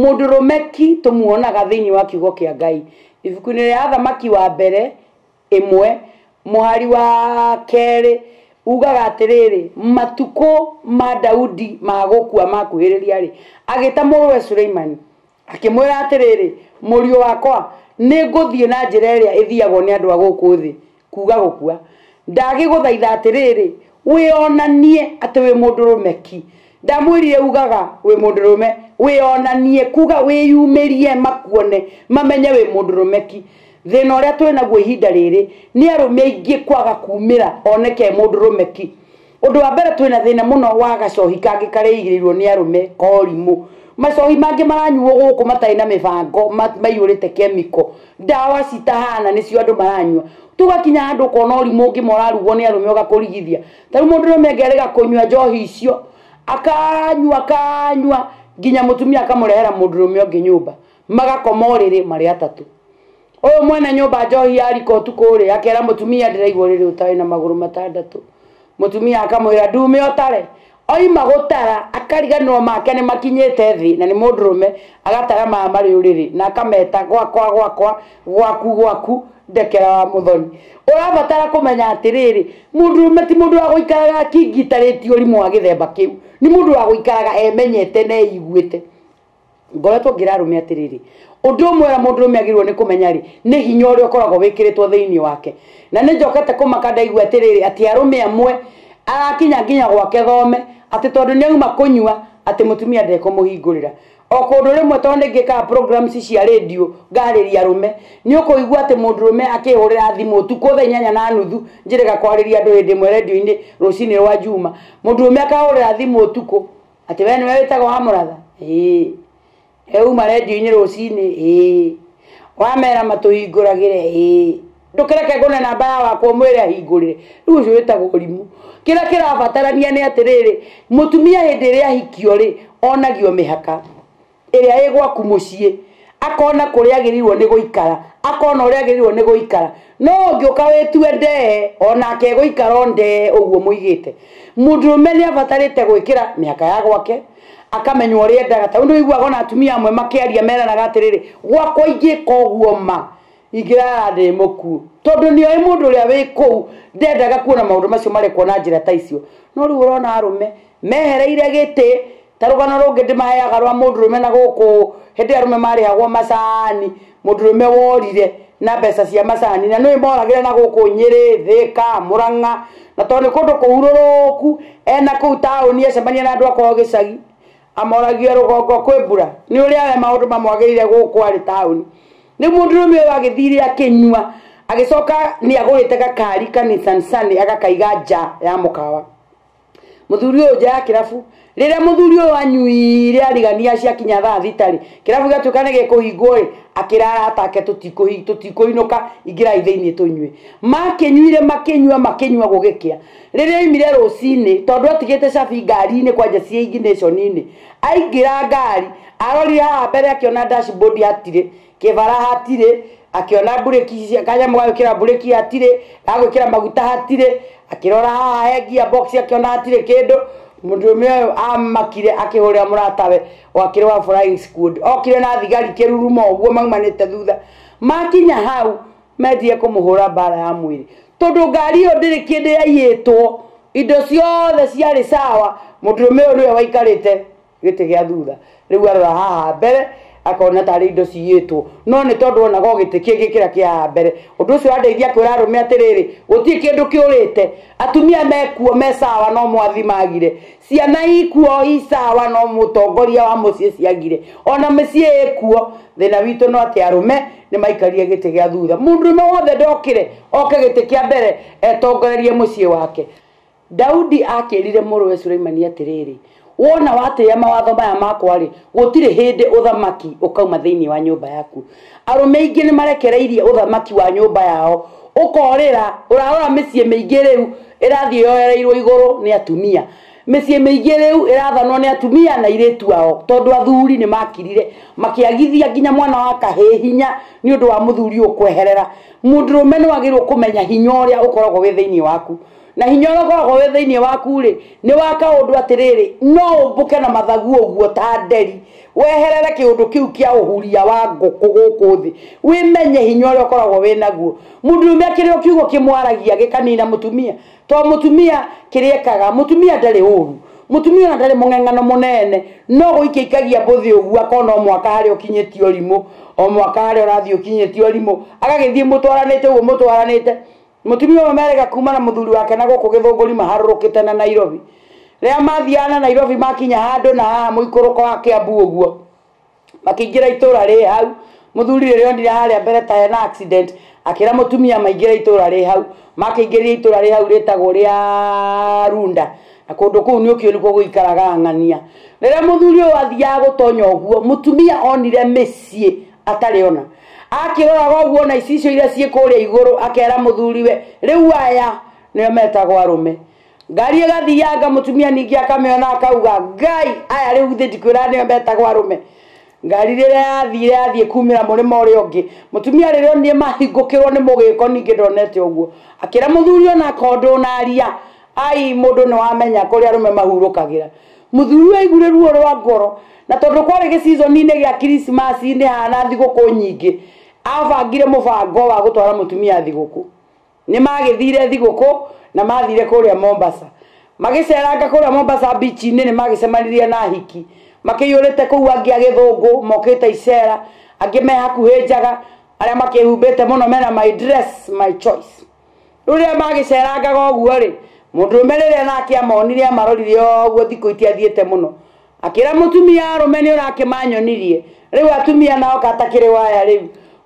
Mũndũrũme ki tũmuonaga thĩinĩ wa kiugo kĩa Ngai. Ibuku-inĩ rĩa Athamaki wa Mbere ĩmwe mũhari wa kerĩ ugaga atĩrĩrĩ, matukũ ma Daudi ma gũkua makuhĩrĩria-rĩ, agĩta mũrũwe Suleimani, akĩmwĩra atĩrĩrĩ, mũriũ wakwa, nĩ ngũthiĩ na njĩra ĩrĩa ĩthiagwo nĩ andũ a gũkũ thĩ, kuuga gũkua, ndagĩgũthaitha atĩrĩrĩ, wĩonanie atĩ wĩ mũndũrũme ki. Ndamwĩrire ugaga wĩ mũndũrũme, wĩonanie, kuuga wĩyumĩrie makuone, mamenye wĩ mũndũrũme ki. Thĩna ũrĩa twĩ naguo ihinda rĩrĩ, nĩ arũme aingĩ kwaga kuumĩra oneke e mũndũrũme ki. Ũndũ wa mbere twĩna thĩna mũno wa gacohi kangĩ karĩigĩrĩirwo nĩ arũme korimũ. Macohi mangĩ maranyuo gũkũ matarĩ na mĩbango maiyũrĩte kemiko, ndawa citahana nĩcio andũ maranyua. Tũgakinya handũ ũkona ũrimũ ũngĩ ma ũrarugwo nĩ arũme ũgakũrigithia. Ta rĩu mũndũ ũrũme angĩarega rĩga kũnyua njohi icio, akanyua akanyua nginya mũtumia akamũrehera mũndũrũme ũngĩ nyũmba, magakoma ũrĩrĩ marĩ atatũ. Ũyũ mwene nyũmba njohi ya rikotu kũrĩa akera mũtumia ndĩraigua ũrĩrĩ ũtarĩ na magũrũ matandatũ. Mũtumia akamwĩra ndume ũtare. Oima gũtara akariganĩrwo make nĩ makinyĩte thĩ na nĩ mũndũrũme agatara maya marĩ ũrĩrĩ na akameta gwakwa gwakwa, gwaku gwaku, ndekera wa mũthoni. Ũrabatara kũmenya atĩrĩrĩ, mũndũrũme ti mũndũ wa gũikaraga akingitarĩtie ũrimũ wa gĩthemba kĩu. Nĩ mũndũ wa gũikaraga emenyete na eiguĩte. ngoretwo ngĩra arũme atĩrĩrĩ ũndũ ũmwe ũrĩa mũndũ ũrũme agĩrĩirwo nĩ kũmenya rĩ nĩ hinya ũrĩa ũkoragwo wĩkĩrĩtwo thĩinĩ wake na nĩ njokete kũmaka ndaigua atĩrĩrĩ atĩ arũme amwe arakinya nginya gwake thome atĩ tondũ nĩ auma kũnyua atĩ mũtumia ndekũmũhingũrĩra o kũndũ rĩmwe tondũ nĩ ngĩkaga programs cia rĩndiũ ngarĩria arũme nĩ ũkũigua atĩ mũndũ rũme akĩhũrĩra thimũ ũtukũ thaa inyanya na nuthu njĩrĩga kwarĩria andũ hĩndĩ ĩmwe rendio-inĩ rũcinĩ rwa njuma mũndũ rũme akahũrĩra thimũ ũtukũ Atĩ we nĩwe wĩtagwo wa mũratha? Ĩĩ. Rĩu uma redio-inĩ rũcinĩ? Ĩĩ. Wamera matũhingũragĩre? Ĩĩ. Ndũkĩreke ngũne namba ya wakwa ũmwĩre ahingũrĩre. Rĩu ũcio wĩtagwo ũrimũ. Kĩrĩa kĩrabatarania nĩ atĩrĩrĩ, mũtumia hĩndĩ ĩrĩa ahikio-rĩ, onagio mĩhaka. ĩrĩa ĩ gwaku mũciĩ akona kũrĩa agĩrĩirwo nĩ gũikara akona ũrĩa agĩrĩirwo nĩ gũikara no ũngĩũka wĩtue ndee onake egũikara o ndee ũguo mũigĩte mũndũrũme nĩ abatarĩte gwĩkĩra mĩhaka ya gwake akamenya ũrĩa endaga ta rĩu nĩ ũiguaga ona atumia amwe makĩaria meranaga atĩrĩrĩ gwakwa ingĩka ũguo ma ingĩrara ndĩ mũkuũ tondũ nĩ oĩ mũndũ ũrĩa wĩ kũu ndendaga kuona maũndũ macio marekwo na njĩra ta icio no rĩu ũrona arũme mehereire gĩtĩ Ta rũgano rũngĩ ndĩmaheaga rwa mũndũrũme na gũkũ hĩndĩ arũme marĩhagwo macani, mũndũrũme worire na mbeca cia macani na nĩũĩ moragĩra na gũkũ Nyĩrĩ, Thĩka, Mũrang'a na tondũ nĩ kũndũ kũhurũrũku ena kũu taũni acemania na andũ a kwao gĩcagi amoragia rũgongo kwĩ mbura? Nĩ ũrĩa we maũndũ mamwagĩrĩire gũkũ arĩ taũni. Rĩu mũndũrũme ũyũ agĩthire akĩnyua agĩcoka nĩ agũrĩte gakari ka Nissan Sunny agakaiga nja ya mũkawa. Mũthuri ũyũ nja ya kĩrabu, rĩrĩa mũthuri ũyũ anyuire arigania ciakinya thaa thita-rĩ, kĩrabu gĩgatuĩka nĩ gĩkũhingwo-ĩ, akĩra arata ake tũtikũinũka, ingĩrai thĩiniĩ tũnyue. Makĩnyuire makĩnyua makĩnyua gũgĩkĩa, rĩrĩa aumire rũcinĩ, tondũ atigĩte cabi ngari-inĩ kwanja ciĩ ignition -inĩ, aingĩra ngari, arorire haha mbere akĩona dashboard hatirĩ. kĩbara hatirĩ akĩona mburĩki cia- kanyamũ ga gwĩkĩra mburĩki hatirĩ ga gwĩkĩra maguta hatirĩ akĩrora haha he ngiya box akĩona hatirĩ kĩndũ mũndũrũme ũyũ amakire akĩhũrĩra mũratawe wakĩrĩ wa flying squad okire na thigari kĩruruma ũguo maumanĩte thutha makinya hau mendire kũmũhũra mbara ya mwĩrĩ tondũ ngari ĩyo ndĩrĩ kĩndũ yaiyĩtwo indo ciothe ciarĩ sawa mũndũrũme ũyũ nĩwe waikarĩte gĩtĩ gĩa thutha rĩu arora haha mbere akona tarĩ indo ciyĩtwo no nĩ tondũ onaga o gĩtĩ kĩngĩ kĩrĩa kĩa haha mbere ũndũ ũcio wandeithia kwĩra arũme atĩrĩrĩ gũtirĩ kĩndũ kĩũrĩte atumia mekuo me sawa no mwathi magire ciana ikuo i sawa no mũtongoria wa mũciĩ ciagire ona mĩciĩ ĩkuo thĩna witũ no atĩ arũme nĩ maikarire gĩtĩ gĩa thutha mũndũrũme wothe ndokire oke gĩtĩ kĩa mbere etongorerie mũciĩ wake Daudi aakĩĩrire mũrũwe Suleimani atĩrĩrĩ, Wona watĩĩa mawatho maya makwa-rĩ, gũtirĩ hĩndĩ ũthamaki ũkauma thĩinĩ wa nyũmba yaku. Arũme aingĩ nĩmarekereirie ũthamaki wa nyũmba yao ũkoorĩra. Ũrarora mĩciĩ mĩingĩ rĩu ĩrathiĩ yoereirwo igũrũ nĩ atumia. Mĩciĩ mĩingĩ rĩu ĩrathanwo nĩ atumia na airĩtu ao, tondũ athuri nĩmakirire, makĩagithia nginya mwana wa kahĩĩ hinya nĩ ũndũ wa mũthuri ũyũ kweherera. Mũndũrũme nĩwagĩrĩirwo kũmenya hinya ũrĩa ũkoragwo wĩ thĩinĩ waku. na hinya ũrĩa ũkoragwo wĩ thĩinĩ waku-rĩ nĩ wa kaũndũ atĩrĩrĩ no ũmbũke na mathagu ũguo ta nderi weherere kĩũndũ kĩu kĩa ũhuria wa ngũkũ gũkũ thĩ wĩmenye hinya ũrĩa ũkoragwo wĩ naguo mũndũrũme akĩrĩ o kiugo kĩmwaragia gĩkanina mũtumia to mũtumia kĩrĩa ekaga mũtumia ndarĩ ũru mũtumia ona ndarĩ mũng'eng'ano mũnene no gũikia ikagia mbũthĩ ũguo akona o mwaka harĩa ũkinyĩtie ũrimũ o mwaka harĩa ũrathiĩ ũkinyĩtie ũrimũ agagĩthiĩ mũtwaranĩte ũguo mũtwaranĩte Mũtumia ũmwe merĩga kuuma na mũthuri wake na gũkũ Gĩthũngũri maharũrũkĩte na Nairobi. Rĩrĩa mathiaga na Nairobi makinya handũ na haha mũikũrũko wa Kĩambu ũguo. Makĩingĩra itũũra rĩ hau. Mũthuri rĩrĩa onire harĩa mbere ta hena accident, akĩra mũtumia maingĩre itũũra rĩ hau. Makĩingĩrire itũũra rĩ hau rĩtagwo rĩa Runda. Na kũndũ kũu nĩ ũkĩũĩ nĩkuo gũikaraga ang'ania. Rĩrĩa mũthuri ũyũ athiaga gũtonya ũguo, mũtumia onire mĩciĩ atarĩ ona akĩroraga ũguo na icicio iria ciĩ kũrĩa igũrũ akera mũthuriwe rĩu aya nĩo metagwo arũme ngari ĩgathianga mũtumia ningĩ akamĩona akauga ngai aya rĩu thĩ ndikwĩra nĩo metagwo arũme ngari rĩrĩa yathire yathiĩ kumĩra mũrĩma ũrĩa ũngĩ mũtumia rĩrĩa onire mahingũkĩrwo nĩ mũgĩko ningĩ ndonete ũguo akĩra mũthuri ona akondwo na aria ai mũndũ nĩ wamenya kũrĩa arũme mahurũkagĩra Mũthuri ũyũ aiguire ruo rwa ngoro, na tondũ kwarĩ gĩcizoninĩ gĩa Kiricimaci-inĩ haana thigũkũ nyingĩ, aabangire mũbango wa gũtwara mũtumia thigũkũ. Nĩ maagĩthire thigũkũ na maathire kũrĩa Mombasa. Magĩceranga kũrĩa Mombasa bici-inĩ nĩ maagĩcemanirie na ahiki makĩiyũrĩte kũu, angĩ agĩthũngũ mokĩte icera, angĩ me hakuhĩ njaga, arĩa makĩĩhumbĩte mũno mena my dress, my choice. Rũrĩa maagĩceerangaga ũguo-rĩ, mũndũrũme rĩrĩa naake amoonire amarorire o ũguo thikũ itiathiĩte mũno. Akĩĩra mũtumia, Arũme nĩũrakĩmaanyonirie, rĩu atumia nao katakĩrĩ o aya rĩu?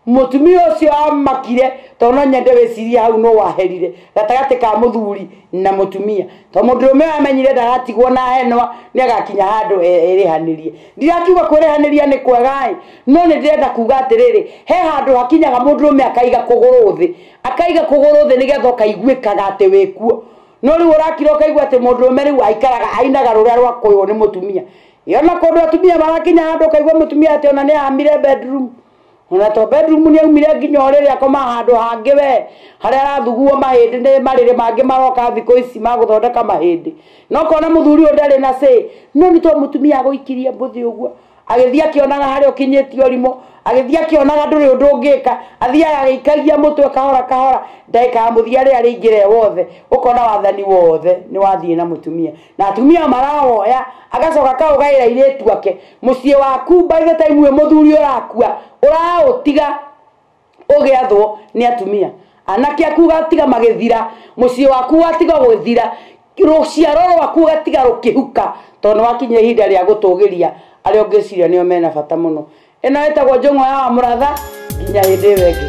Mũtumia ũcio aamakire, tondũ no nyende wĩciirie hau nũũ waherire gatagatĩ ka mũthuuri na mũtumia. Tondũ mũndũrũme ũyũ aamenyire ndagatigwo na henwa, nĩagakinya handũ erĩhanĩrie. Ndirakiuga kwĩrĩhanĩria nĩ kwega-ĩ, no nĩndĩrenda kuuga atĩrĩrĩ, he handũ hakinyaga mũndũrũme akaiga kũgũrũ thĩ, akaiga kũgũrũ thĩ nĩgetha ũkaiguĩkaga atĩ wĩ kuo no rĩu ũrakira ũkaigua atĩ mũndũrũme rĩu aikaraga ainaga rũrĩa rwa kũywo nĩ mũtumia yona kũndũ atumia marakinya handũ ũkaigua mũtumia atĩ ona nĩ amire bedroom ona to bedroom nĩ aumire nginya ũrĩrĩ akoma handũ hangĩ we harĩa arathuguo mahĩndĩ nĩ marĩrĩ mangĩ maroka thikũ ici ma gũthondeka mahĩndĩ no kona mũthuri ũyũ ndarĩ na say no nĩ to mũtumia agũikirie mbũthĩ ũguo agĩthiĩ akĩonaga harĩa ũkinyĩtie ũrimũ agĩthiĩ akĩonaga ndũrĩ ũndũ ũngĩka athiaga agĩikagia mũtwe kahora kahora ndagĩka ya mũthia rĩrĩa rĩingĩre wothe ũkona wathani wothe nĩ wathiĩ na mũtumia na atumia marawoya agacoka akaũgaĩra airĩtu ake mũciĩ waku by the time we mũthuri ũrakua ũraũtiga ũgĩathwo nĩ atumia anake aku ũgatiga magĩthira mũciĩ waku watiga gwĩthira rũciaro rwaku ũgatiga rũkĩhuka tondũ nĩ wakinya ihinda rĩa gũtũgĩria arĩa ũngĩciria nĩo mena bata mũno ĩno ĩtagwo njũng'wa ya wa mũratha nginya hĩndĩ ĩyo ĩngĩ